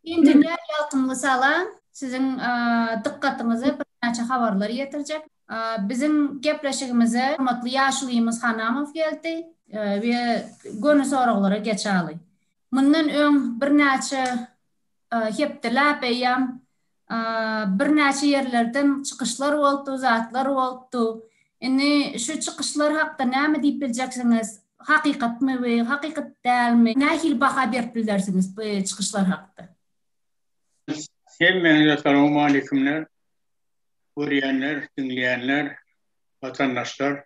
Endiler ýalkymly salam. Siziň dykgatyňyza birnäçe habarlar ýetirjek. Biziň gepleşigimize hormatly ýaşulymyz Hanamow geldi we göni soraglara geçaly. Mundan öň birnäçe hepdeläp eýýäm Birnäçe ýerlerden çykyşlar bolupdy, zatlar bolupdy. Indi şu çykyşlar hakda näme diýip biljeksiňiz? Hakykatmy bu, hakykat dälmi? Nähili baha berip bilersiňiz bu çykyşlar hakda? Hemmäňize salowmaleýkumler. Görýänler, diňleýänler, watandaşlar.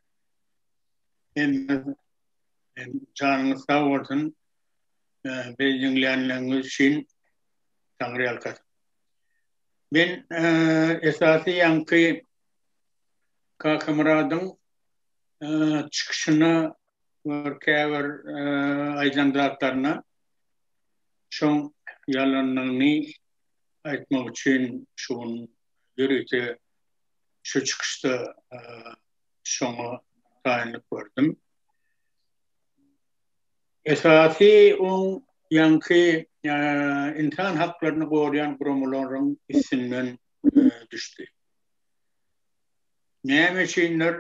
Hemmäňiz janyňyz sag bolsun. Bizi diňlänligiňiz üçin Taňryýalkasyn. Men esasy ýaňky Kakamyradyň çykyşyna bir käbir aýdan zatlaryna şoň ýalanlygyny aýtmak üçin şu gün ýörite şu çykyşda şoňa taýynlyk gördüm. Esasy oň ýaňky ynsan haklaryny goraýan guramalaryň üstünden düşdi. Näme üçindir,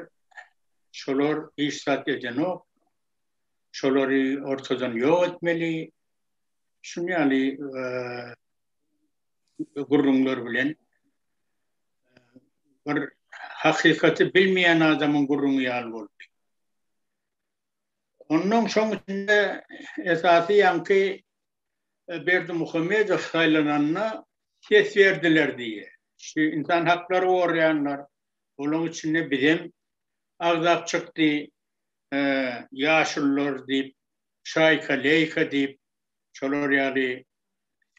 şolar hiç zat edenok, şolary ortadan ýok etmeli, şuny ýaly gürrüňler bilen, bir hakykaty bilmeýän adamyň gürrüňi ýaly boldy. Ondan soň içinde esasy ýaňky e, Berdimuhamedow saýlananda ses berdiler diýýär. Şu insan haklary gorýanlar, olaryň içinde bizem agzap çykdy, e, ýaşullar diýip, şaýka leýka diýip, şolar ýaly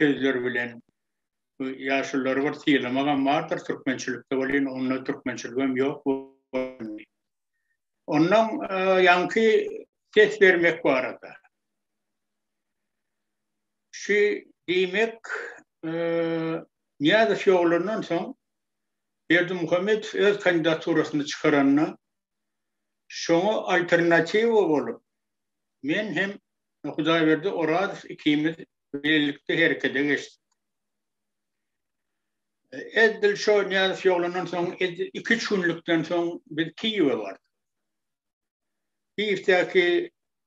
sözler bilen bu ýaşullary bir sylamagam bardyr türkmençilikde welin onda türkmençiligem ýok. Ondan ýaňky ses bermek barada. Şu diýmek, Niýazow ýogalandan soň Berdimuhamedow öz kandidaturasyny çykaranda, şoňa alternatiwa bolup, men hem Hudaýberdi Orazow ikimiz bilelikde herekete geçdik. Edil şo Niýazow ýolandan soň, edil iki-üç günlükden soň biz Kiýewe bardyk. Kiýewdäki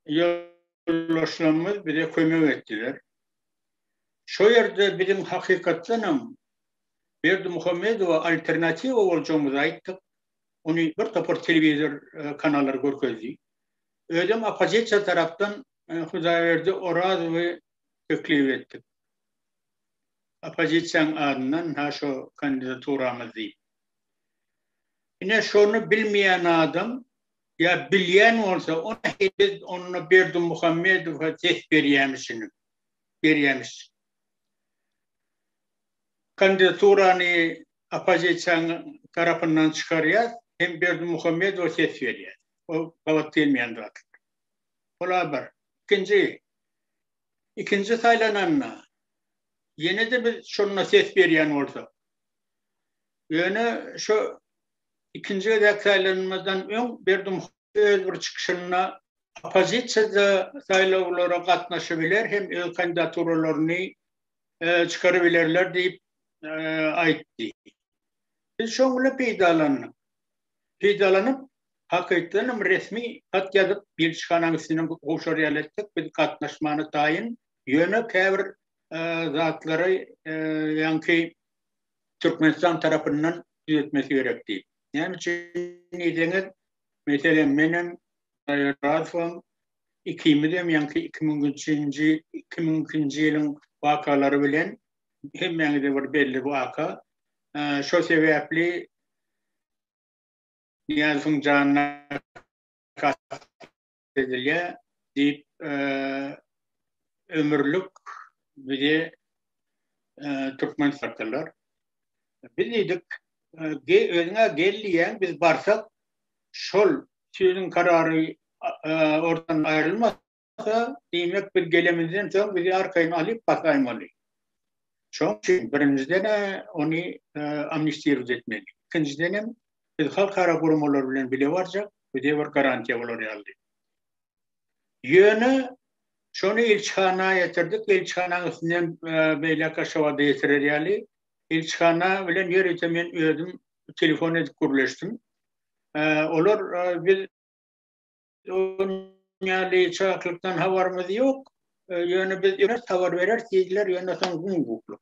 ýoldaşlarymyz bize kömek etdiler. Şo ýerde biziň hakykatdan hem Berdimuhamedowa alternatiwa boljagymyzy aýtdyk. Ony bir topar telewizor kanallary görkezdi. Özem oppozisiýa tarapdan Hudaýberdi Orazowy teklip etdik. Oppozisiýaň adyndan ha şo kandidaturamyz diýip. Ine şony bilmeýän adam ýa bilýän bolsa ony heniz onda Berdimuhamedowa ses berýämişinim. Berýämiş. Kandidaturany oppozisiýaň tarapyndan çykarýas hem Berdimuhamedowa ses berýär. O gabat gelmeýän zat. Ola bir. Ikinji ikinji saýlananda ýene-de biz şonda ses berýän bolsak, ýöne şu ikinji gezek saýlanmazdan öň Berdimuhamedow öz bir çykyşynda oppozisiýa-da saýlawlara gatnaşybiler hem öz kandidaturalaryny çykarybilerler diýip aýtdy. Biz şoň bilen peýdalandyk. Peýdalanyp, Hakykydanam resmi hat ýazyp ilçihanaň üstünden gowşar ýaly etdik, biz gatnaşmana taýyn, ýöne käbir zatlary ýaňky Türkmenistan tarapyndan düzetmesi gerek diýip. Näme üçin diýseňiz, meselem menem Razyfam ikimizem ýaňky iki müňünçinji iki müňünçinji ýylyň wakalary bilen hemmäňize bir belli waka, şo sebäpli Nyýazowyň janyna kast edilýär diýip, ömürlik bizi türkmen satdylar. Biz diýdik, özüň-ä gel diýýän, biz barsak, şol sýudiň karary ortadan aýrylmasyn, bolmasa, diýmek biz gelemizden soň bizi arkaýyn alyp basaýmaly. Şoň üçin birinjiden ony amnistiriz etmeli. Ikinjiden hem biz halkara guramalar bilen bile barjak, bize bir garantiýa bolar ýaly. Ýöne şony ilçihana ýetirdik, ilçihanaň üstünden beýläk Aşgabada ýetirer ýaly. Ilçihana bilen ýörite men özüm telefon edip gürleşdim. Olar biz Dünýäli çaklykdan habarymyz ýok. Ýöne biz öňe habar berer diýdiler, ýöne soň gün guklu.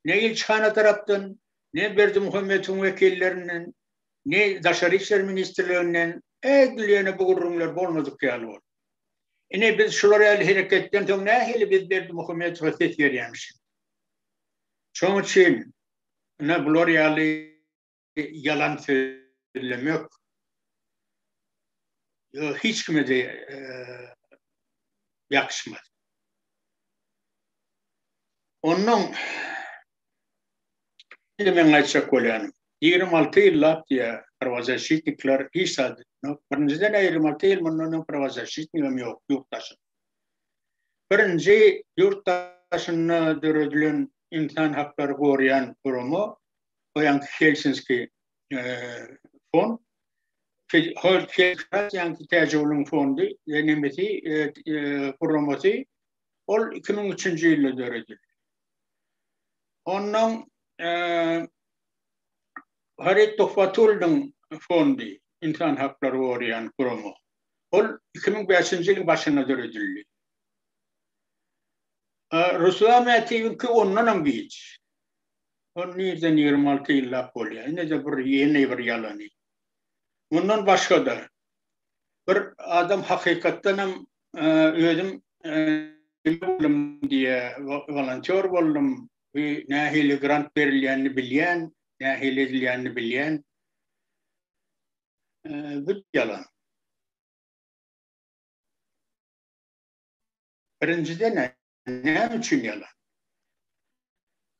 Ne ilçihana tarapdan, ne Berdi Muhammediň wekillerinden, ne Daşary işler ministrliginden edil ýöne bu gürrüňler bolmadyk ýaly boldy. Ine biz şular ýaly hereketden soň nähili biz Berdi Muhammedowa ses berýämişik. Şoň üçin ine bular ýaly ýalan sözlemek hiç kime-de ýakşymaz. Onnoň indi meň aýtjak bolýanym, ýigrimi alty ýyllap diýýär, prawazaşitnikler hiç zat etmok. Birinjiden, ýigrimi alty ýyl mundan öň prawazaşitnigem ýok ýurt daşynda. Birinji ýurt daşynda döredilen ynsan haklary goraýan gurama o ýanky Helsinki fon, Helsinki ýanky Täjigulun fondy, nemesi, gurulmasy, ol 2003-nji ýylda döredildi. Ondan Harit Tohfatullin fondy, insan haklary goraýan gurama, ol 2005-nji ýylyň başynda döredildi. Ruslan Mätiwiňki ondanam giç. Ol nirden ýigrimi alty ýyllap bolýar. Ine-de bir ýene bir ýalany. Mundan başga-da, bir adam hakykatdan hem özüm diýýär, wolontýor boldum, nähili grant berilýänini bilýän, nähili edilýänini bilýän. Bu ýalan. Birinjiden-ä, näme üçin ýalan?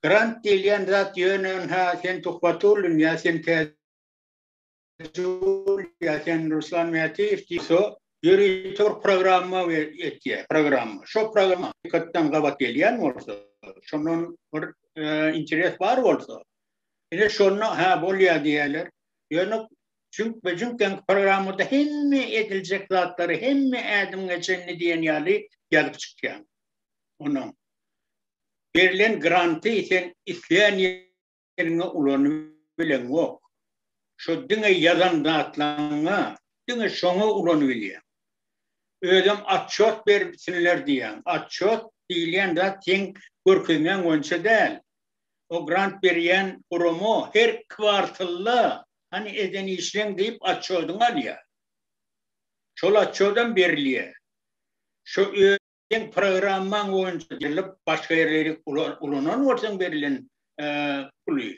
Grant diýilýän zat ýöne ha sen Tuhbatullin ýa sen Täjul ýa sen Ruslan Mätiýew diýse, ýörite bir programma etýär, programma. Şo programma hakykatdan gabat gelýän bolsa, şondan bir e, interes bar bolsa, ine şonda ha bolýar diýerler. Ýöne Jüňk we jüňk ýaňky programmada hemme ediljek zatlary hemme ädim geçenini diýen ýaly ýazyp çykýaň. Onuň berlen granty sen isleýän ýeriňe ulanyp bileňok. Şo diňe ýazan zatlaryňa diňe şoňa ulanyp bilýäň. Özem atçot berip sinler diýýäň. Atçot diýilýän zat seň görkezmäň boýunça däl. O grant berýän gurama her kwartalda Hany eden işleň diýip atçodyň alýar. Şol atçodam berilýär. Şo öz seň programmaň boýunça ýylyp başga ýerleri ulanan bolsaň berilen puly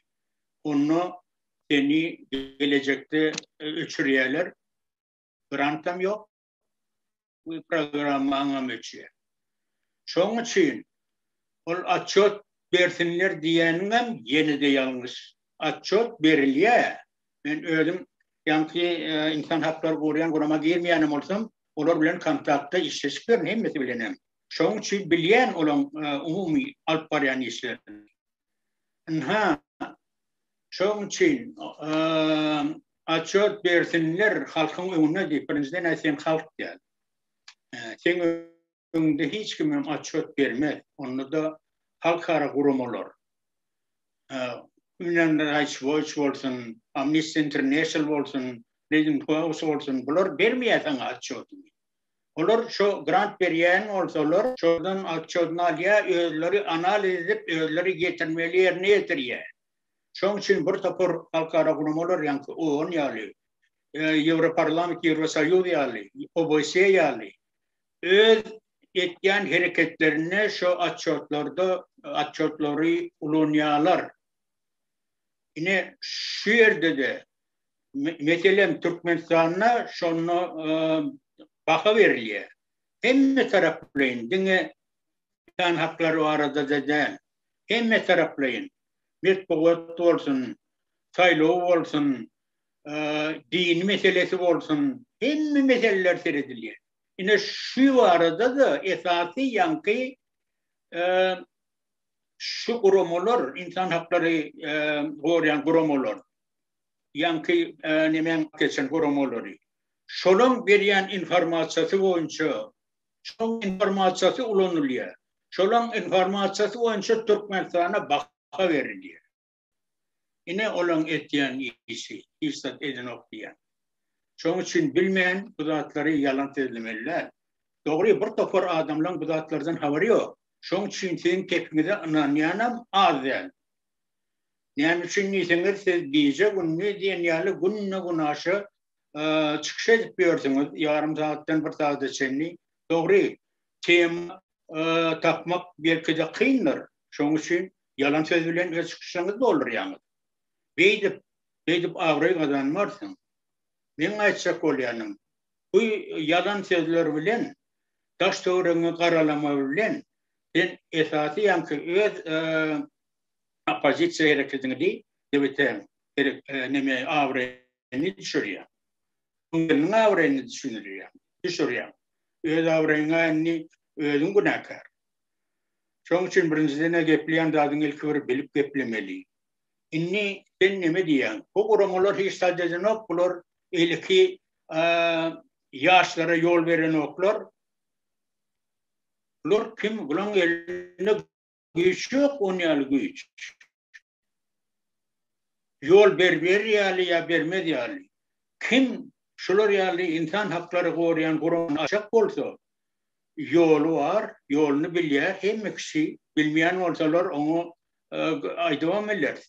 onda seni gelejekde öçürýärler. Grantam ýok. bu programma aňam öçýär. Şoň üçin ol atçot bersinler diýeniňem ýene-de ýalňyş. Atçot berilýär. Men özüm ýaňky e, insan haklary goraýan gurama girmeýänem bolsam, olar bilen kontaktda işleşip ýörün hemmesi bilenem. Şoň üçin bilýän olaň e, umumy alyp barýan işlerini. Ynha, Şoň üçin atçot bersinler halkyň öňünde diýip, birinjiden aý sen halk däl. Seň öňünde hiç kim hem atçot bermez. Onda-da halkara guramalar. Human Rights Watch bolsun, Amnesty International bolsun, Freedom House bolsun, bular bermeýär saňa atçotyny. Olar şo grant berýän bolsalar, şodan atçotyny alýar, özleri analiz edip, özleri getirmeli ýerine ýetirýär. Şonuň üçin bir topar halkara guramalar ýaňky OON ýaly, Ýewroparlament, Ýewrosoýuz ýaly, OBSE ýaly öz etýän hereketlerinde şo otçotlarda otçotlary ulanýarlar. Ine şu ýerde-de meselem Türkmenistanda şonda baha berilýär. Hemme taraplyýyn diňe insan haklary barada-da däl. hemmetaraplaýyn metbugat bolsun, saýlaw bolsun, din meselesi bolsun, hemme meseleler seredilýär. Ine şu barada-da esasy ýaňky şu guramalar, ynsan haklary goraýan guramalar, ýaňky nemäň geçen guramalary, şolaň berýän informasiýasy boýunça şoň informasiýasy ulanylýar. Şolaň informasiýasy boýunça Türkmenistana baha berilýär. Ine olaň etýän işi, hiç zat edenok diýýän. Şoň üçin bilmän bu zatlary ýalan sözlemeli däl. Dogry bir topar adamlaň bu zatlardan habary ýok. Şoň üçin siziň kepiňize ynanýanam az däl. Näme üçin diýseňiz siz gije gündiz diýen ýaly günde-günaşa çykyş edip ýörsüňiz, ýarym sagatdan bir sagada çenli. Dogry, tema tapmak belki-de kyndyr. Şonuň üçin ýalan söz bilen öz çykyşyňyzy doldurýaňyz. Beýdip, beýdip abraý gazanmarsyň. Meň aýtjak bolýanym, bu ýalan sözler bilen, daş-töweregiňi garalama bilen sen esasy ýaňky öz oppozisiýa hereketiňi diý, nebete, neme, abraýa abraýyny düşürýäň. Öň gelniň abraýyny düşündirýäň, düşürýäň. Öz abraýyňa indi özüň günäkär. Şoň üçin birinjiden-ä gepleýän zadyňy ilki bir bilip geplemeli. Indi sen neme diýýäň? Bu guramalar hiç zat edenok, bular eýleki ýaşlara ýol berenoklar. Bular kim? Bularyň elinde Güýç ýok on ýaly güýç. Ýol ber berir ýaly ýa bermez ýaly. Kim şular ýaly ynsan haklary goraýan guramy açak bolsa, ýoly bar, ýoluny bilýär, hemme kişi bilmeýän bolsalar oňa aýdybam bileris.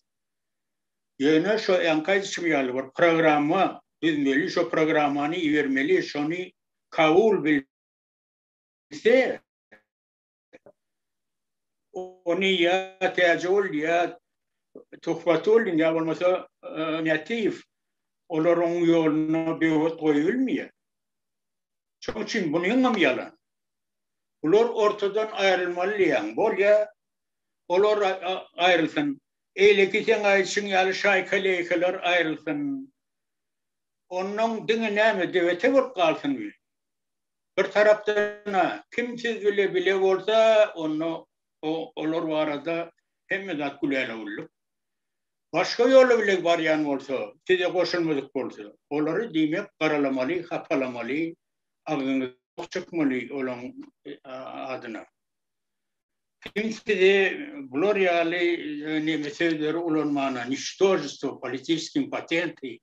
Ýöne şo ýaňky aýdyşym ýaly bir programma düzmeli, şo programmany ibermeli, şony kabul bilse, Ony ýa Täjigul ýa Tuhbatullin ýa bolmasa Nätiýew olaryň ýoluna böwet goýulmaýar. Şonuň üçin bunyň hem ýalan. Bular ortadan aýrylmaly diýýän. Bolýa, olar aýrylsyn. Eýleki sen aýdyşyň ýaly şaýka-leýkeler aýrylsyn. Ondan diňe näme, debete bolup galsyn. Bir tarapdan-a, kim siz bile bile bolsa, onda olar barada hemme zat gülälewulluk. Başga ýoly bile barýan bolsa, size goşulmadyk bolsa, olary, diýmek, garalamaly, hapalamaly, agzyňyz ok çykmaly olaň adyna. Kim sizi bular ýaly neme sözleri ulanmana, niştožestwo, politiçki impotenty,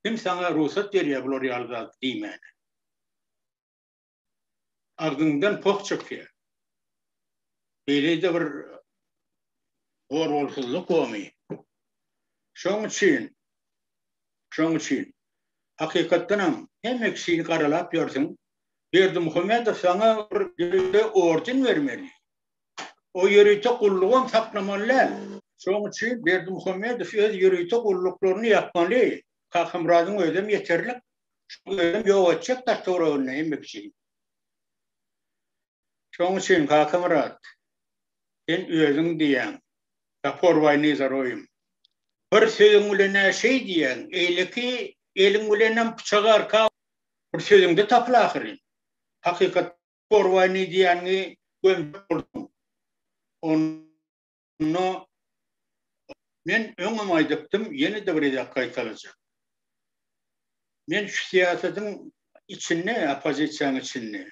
kim saňa rugsat berýär bular ýaly zat diýmäne? agzyňdan poh çykýar. Beýle-de bir goragsyzlyk gomy. Şoň üçin, şoň üçin hakykatdan hem hemme kişini garalap ýörsüň. Berdimuhamedow saňa bir ýörite orden bermeli. O ýörite gullugam saklamaly däl. Şoň üçin Berdimuhamedow öz ýörite gulluklaryny ýapmaly. Kakamyradyň özem ýeterlik. Şoň özem ýok etjek daş töwereginde hemme kişini. Şoň üçin Kakamyrat, sen özüň diýýäň, Gapor baý Nizaroýym. Bir sözüň bilen-ä şeý diýýäň, eýleki eliň bilenem pyçagy arka bir sözüňde tapyl ahyryn. Hakykatda Gapor baý Niziýanyňy gömjek bolduň. Onda Onda men öňem aýdypdym, ýene-de bir gezek gaýtalajak. Men şu syýasatyň içinde, oppozisiýanyň içinde,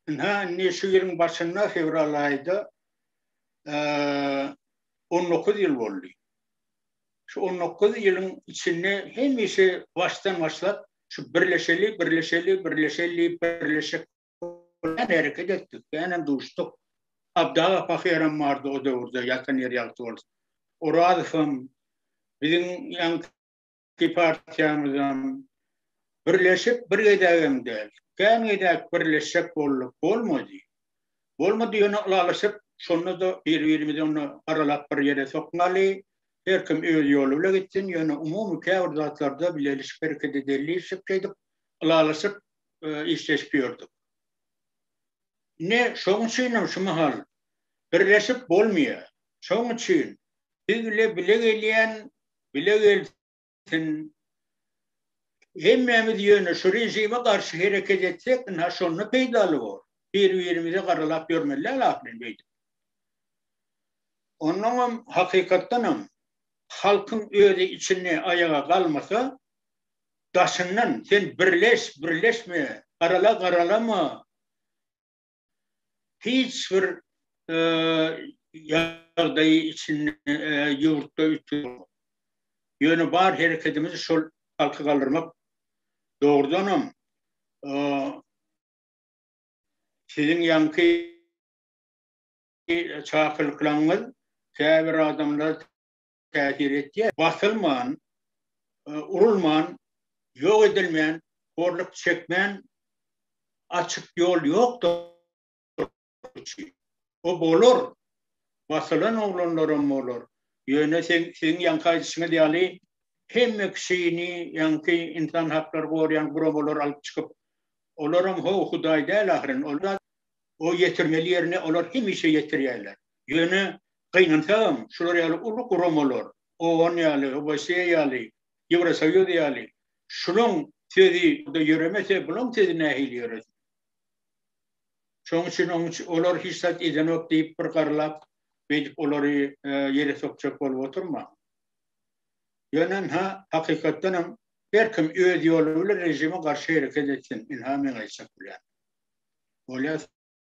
ynha indi şu ýylyň başynda fewral aýda on dokuz ýyl boldy. Şu on dokuz ýylyň içinde hemişe başdan başlap şu birleşeli, birleşeli, birleşeli, birleşek Olar hereket etdik, känem duşduk. Abdaga pahyram bardy o döwürde, ýatan ýeri ýagty bolsun. Orazowam, biziň ýaňky partiýamyzam birleşip bir gezegem däl, kän gezek birleşjek bolduk, bolmady. Bolmady, ýöne ylalaşyp, şonda-da bir-birimizi onda aralap bir ýere sokmaly, her kim öz ýoly bile gitsin, ýöne umumy käbir zatlarda bilelişip hereket edeliýşik şeýdip, ylalaşyp, işleşip ýördük. Ne şoň üçin hem şu mahal birleşip bolmaýar. Şoň üçin biz bile bile gelýän, bile gelsin. Hemmämiz ýöne şu režime garşy hereket etsek, ynha şonda peýdaly bor. Bir-birimize garalap ýörmeli däl ahyryn beýdip. Ondan hem hakykatdan hem halkyň özi içinde aýaga galmasa, daşyndan sen birleş, birleşme, garala, garalama, hiç bir ýagdaýy içinde ýurtda üýtgewok. Ýöne bar hereketimiz şol halky galdyrmak. Dogrudanam, siziň ýaňky çakylyklaryňyz käbir adamlary täsir etýär. Basylman, urulman, ýok edilmän, horluk çekmän açyk ýol ýokdur ki. O bolar. Basylan oglanlaram bolar. Ýöne siziň ýaňky aýdyşyňyz ýaly hemme kişini ýaňky ynsan haklary goraýan guramalar alyp çykyp, olaram ho hudaý däl ahyryn. Olar o ýetirmeli ýerine olar hemişe ýetirýärler. Ýöne Gynansagam, şular ýaly uly guramalar, OON ýaly, OBSE ýaly, Ýewrosoýuz ýaly, şulaň sözi bu-da ýöremese, bulaň sözi nähili ýöresin? Şonuň üçin oň üçin olar hiç zat edenok diýip, bir garlap, beýdip olary ýere sokjak bolup oturmaň. Ýöne ynha, hakykatdan hem, her kim öz ýoly bilen režime garşy hereket etsin, ynha, men aýtjak bilen. Bolýar.